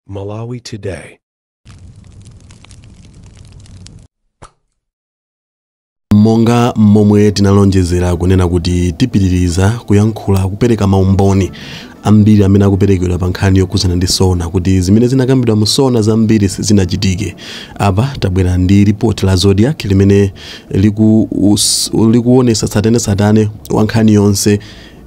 Malawi Today. monga momwe tinalonjezera kunena kuti tipitiriza kuyankhula kupereka maumboni ambiri amene akuperekedwa pa nkhani yokhudzana ndi sona kuti zimene zinakambidwa mu sona zambiri sizinachitike apa tabwera ndi ripoti la zodiak limene liku- us- likuonesa tsatanetsatane wa nkhani yonse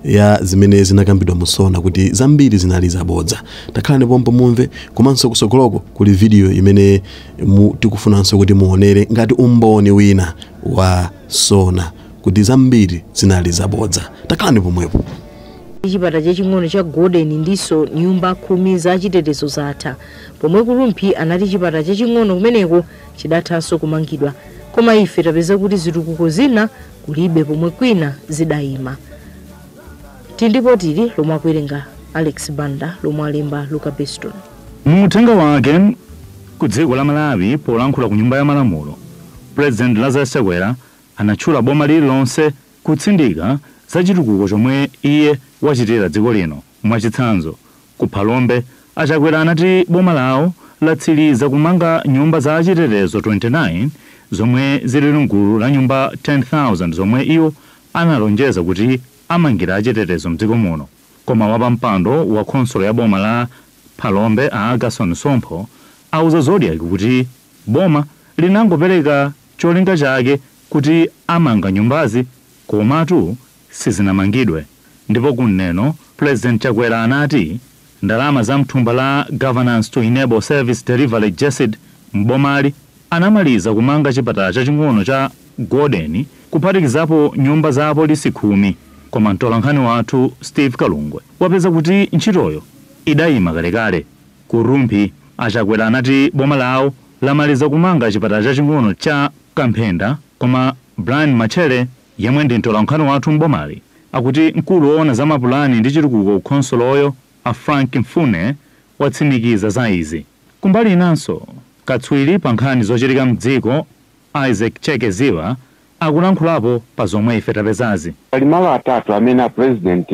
ya zimene zinakambidwa mu sona kuti zambiri zinali zabodza takhalani pompo mumve komanso kusogoloko kuli vidiyo imene mu- tikufunanso kuti muonere ngati umboni wina wa sona kuti zambiri zinali zabodza takhalani pomwepo chipatala chaching'ono cha golden ndiso nyumba khumi za chitetezo zatha pomwe ku rumphi anati chipatala chaching'ono kumeneko chidathanso kumangidwa koma ife tapeza kuti zitukuko zina kulibe pomwe kwina zidayima tili ndi lipoti lomwe akuwerenga alex banda lomwe alemba luka beston Mu uthenga wake ku dziko la Malawi polankhula ku nyumba ya malamulo, President Lazarus Chakwera anatchula boma lililonse kutsindika za chitukuko chomwe iye wachitira dziko lino. Mwachitsanzo, ku Phalombe, a Chakwera anati boma lawo latsiliza kumanga nyumba za achitetezo 29 zomwe zili mgulu la nyumba 10,000 zomwe iwo analonjeza kuti amangira achitetezo mdziko muno koma wapampando wa khonsolo ya boma la Phalombe a Agason Sompho auza Zodiak kuti boma linangopereka cholinga chake kuti amanga nyumbazi komatu sizinamangidwe ndipo ku Neno President Chakwera anati ndalama za mthumba la Governance to Enable Service Delivery Gesed m'bomali anamaliza kumanga chipatala chaching'ono cha Golden kuphatikizapo nyumba za apolisi khumi koma mtolankhani wathu Steve Kalungwe wapeza kuti ntchitoyo idayima kalekale. Ku Rumphi a Chakwera anati boma lawo lamaliza kumanga chipatala chaching'ono cha Kamphenda koma Brian Matchere Yemwe ndi mtolankhani wathu m'bomali akuti mkulu woona za mapulani ndi chitukuko ku khonsoloyo a Frank Mfune watsimikiza za izi. Kumbali inanso, katswiri pa nkhani zochitika m'dziko Isaac Chekeziwa akulankhulapo pa zomwe ife tapezazi. Pali malo atatu amene a President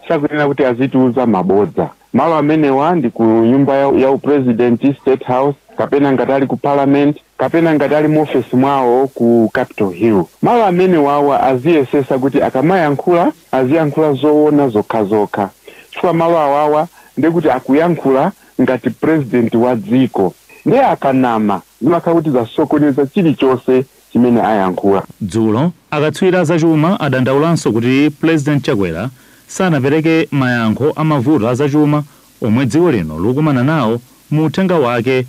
sakuyenera kuti azitiuza mabodza. Malo amenewa ndi ku nyumba ya, ya upresidenti, State House, kapena ngati ali ku Parliament, kapena ngati ali mu ofesi mwawo ku Capital Hill. Malo amenewawa aziyesesa kuti akamayankhula aziyankhula zoona zokhazokha chifukwa malo awawa ndiye kuti akuyankhula ngati president wa dziko ndiye akanama zimakhala kuti zasokoneza chilichose chimene ayankhula. Dzulo, akatswiri a zachuma adandaulanso kuti Pulezidenti Chakwera sanapereke mayankho a mavuto a zachuma omwe dziko lino likukumana nawo mu uthenga wake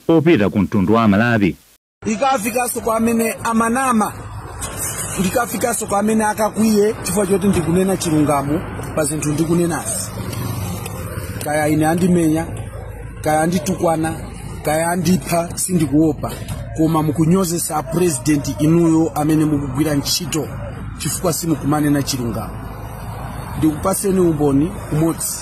opita ku mtundu wa Amalawi. Ndikafikaso kwa amene amanama, ndikafikaso kwa amene akakwiye chifukwa choti ndikunena chilungamo pa zinthu ndikunenazi, kaya ine andimenya, kaya anditukwana. kaya andipha sindikuopa koma mukunyozesa apurezidenti inuyo amene mukugwira ntchito chifukwa simukumanena chilungamo ndikupaseni umboni umodzi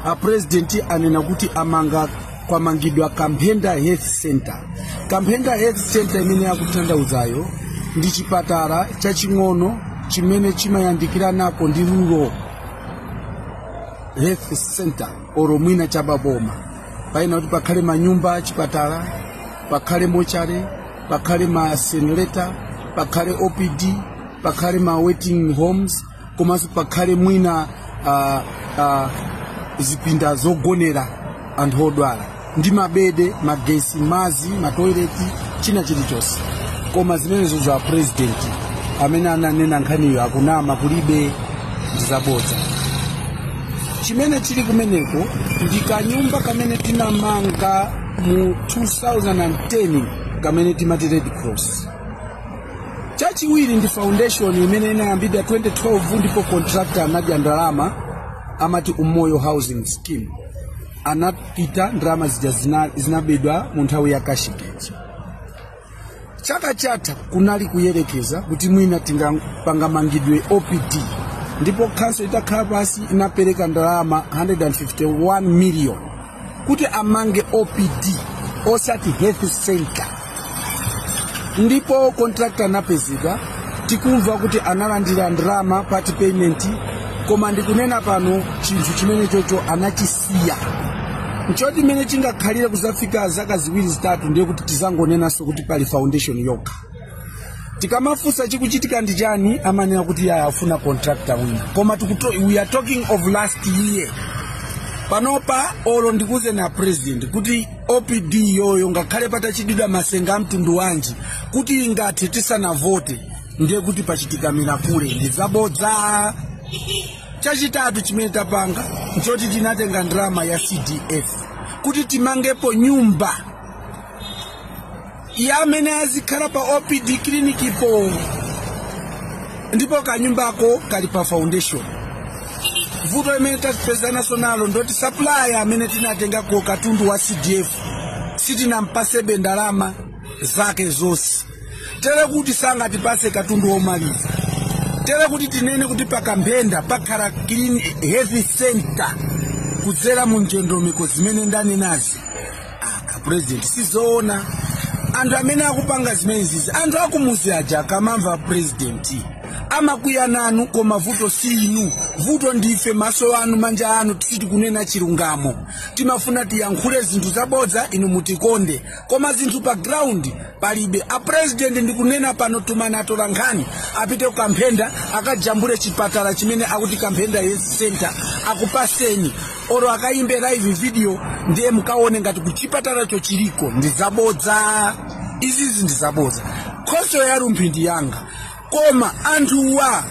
apurezidenti anena kuti amanga kwamangidwa kamphenda health center kamphenda health center imene akutanthauzayo ndi chipatala chaching'ono chimene chimayandikiranako ndi rural health center oro mwina chababoma paina kuti pakhale manyumba achipatala pakhale mochare pakhale ma incinerator pakhale opd pakhale ma waiting homes komanso pakhale mwina uh, uh, zipinda zogonera anthu odwala ndi mabede magesi mazi matoileti china chilichonse koma zimenezo za president amene ananena nkhaniyo akunama kulibe ndizabodza chimene chili kumeneko ndi kanyumba kamene tinamanga mu 2010 kamene timati red cross chachiwiri ndi foundation imene inayambidwa 2012 ndipo contractor anadya ndalama amati umoyo housing scheme anapita ndalama zija zina- zinabedwa mu nthawi ya cashgate chaka chatha kunali kuyerekeza kuti mwina tipanga pamangidwe opd ndipo khanso itakhala pasi inapereka ndalama 151 million kuti amange opd osati health center ndipo contractor anapezeka tikumva kuti analandira ndalama part payment koma ndikunena pano chinthu chimene chocho anachisi siya nchoti mmene chingakhalire kuzafika zaka ziwiri zitatu ndiye kuti tizangonenanso kuti pali foundation yokha tikamafunsa chikuchitika ndi chani amanena kuti yaya afuna contractor wina koma tikuto, we are talking of last year panopa olo ndikuze na president kuti opd iyoyo ngakhale patachitidwa masenga amtundu wanji kuti ingathe tisanavote ndiye kuti pachitika mirakule ndi zabodza chachitatu chimene tapanga nchoti tinatenga ndalama ya cdf kuti timangepo nyumba ya amene azikhala pa opd clinic po ndipo kanyumbako kali pa foundation vuto imene tapezanaso nalo ndoti supplier amene tinatengako katundu wa cdf sitinampasebe ndalama zake zonse tere kuti sangatipase katundu womaliza tere kuti tinene kuti pa kamphenda pakhala clean health center kudzera mu ndondomeko zimene ndanenazi a president sizoona anthu amene akupanga zimenezizi anthu akumuzi aja akamamva president amakwiya nanu koma vuto si inu vuto ndife maso anu manja anu ti- sitikunena chilungamo timafuna tiyankhule zinthu zabodza inu mutikonde koma zinthu pa ground palibe apresidenti ndikunena pano tumani atola nkhani apite ku kamphenda akajambule chipatala chimene akuti kamphenda health center akupaseni oro akayimbe live video ndiye mukaone ngati kuchipatalacho chiliko ndi zabodza izizi ndi zabodza khonsolo ya rumphi ndi yanga koma anthuwa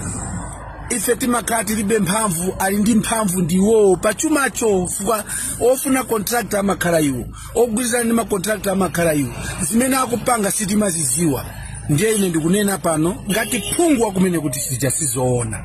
ife timakhala tilibe mphamvu ali ndi mphamvu ndi iwowo pa chumacho fukwa ofuna contractor amakhala iwo ogwirizana ndi macontractor amakhala iwo zimene akupanga sitimaziziwa ndiye ine ndikunena pano ngati phungu wakumeneko kuti zija sizoona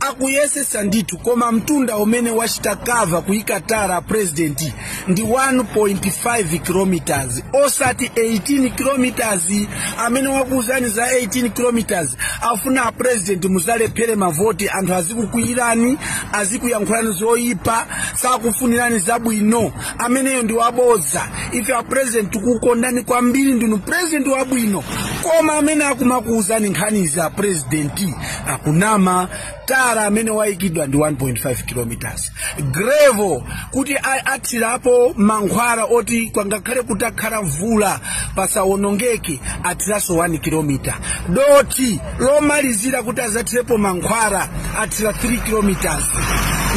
akuyesesa ndithu koma mtunda umene wachita cover kuyika tara a president ndi 1.5 kilometers osati 18 kilometers amene wakuuzani za 18 kilometers afuna a president muzalephere mavoti anthu azikukwiyirani azikuyankhulani zoyipa sakufunirani zabwino ameneyo ndi wabodza ife a president tikukondani kwambiri ndinu president wabwino koma amene akumakuuzani nkhanizi a president akunama tara amene wayikidwa ndi 1.5 kilometers gravel kuti a- athirapo mankhwala oti kwangakhale kutakhala mvula pasawonongeke athiranso 1 kilometer dothi lomalizira kuti azathirepo mankhwala athira 3 kilometers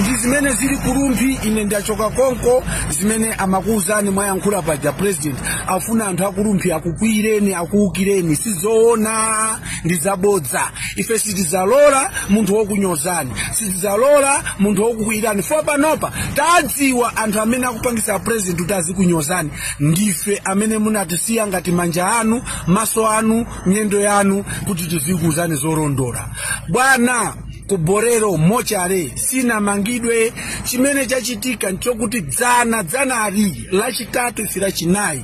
ndi zimene zili ku rumphi ine ndachoka konko zimene amakuwuzani mwayankhula paja president afuna anthu aku rumphi akukwiyireni akuwukireni sizoona ndi zabodza ife sitidzalola munthu wokunyozani sitidzalola munthu wokukwiyirani fo panopa tadziwa anthu amene akupangisa president kuti azikunyozani ndife amene munatisiya ngati manja anu maso anu miyendo yanu kuti tizikuuzani zolondola bwana ku bolero mochare sinamangidwe chimene chachitika nchokuti dzana dzanali lachitatu ife lachinayi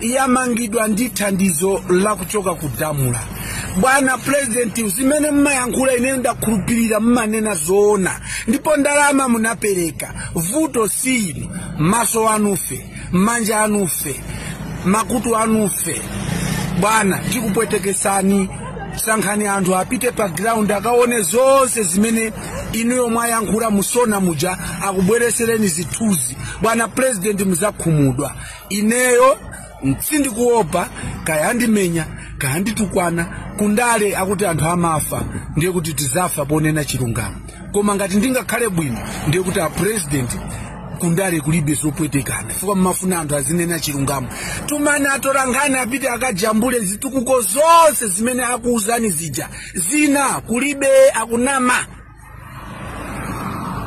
yamangidwa ndi thandizo la kuchoka ku damra bwana purezidenti zimene mmayankhula ineyo ndakhulupirira mmanena zoona ndipo ndalama munapereka vuto si inu maso anufe manja anufe makutu anufe bwana tikupwetekesani sankhani anthu apite pa ground akaone zonse zimene inuyo mwayankhula mu sona muja akubweresereni zithunzi bwana purezidenti muzakhumudwa ineyo sindikuopa kaya andimenya kaya anditukwana kundale akuti anthu amafa ndiye kuti tizafa ponena chilungamo koma ngati ndingakhale bwino ndiye kuti apresident kundale kulibe zopwetekana chifukwa mmafuna anthu azinena chilungamo tumani atolankhani apite akajambule zitukuko zonse zimene akuuzani zija zina kulibe akunama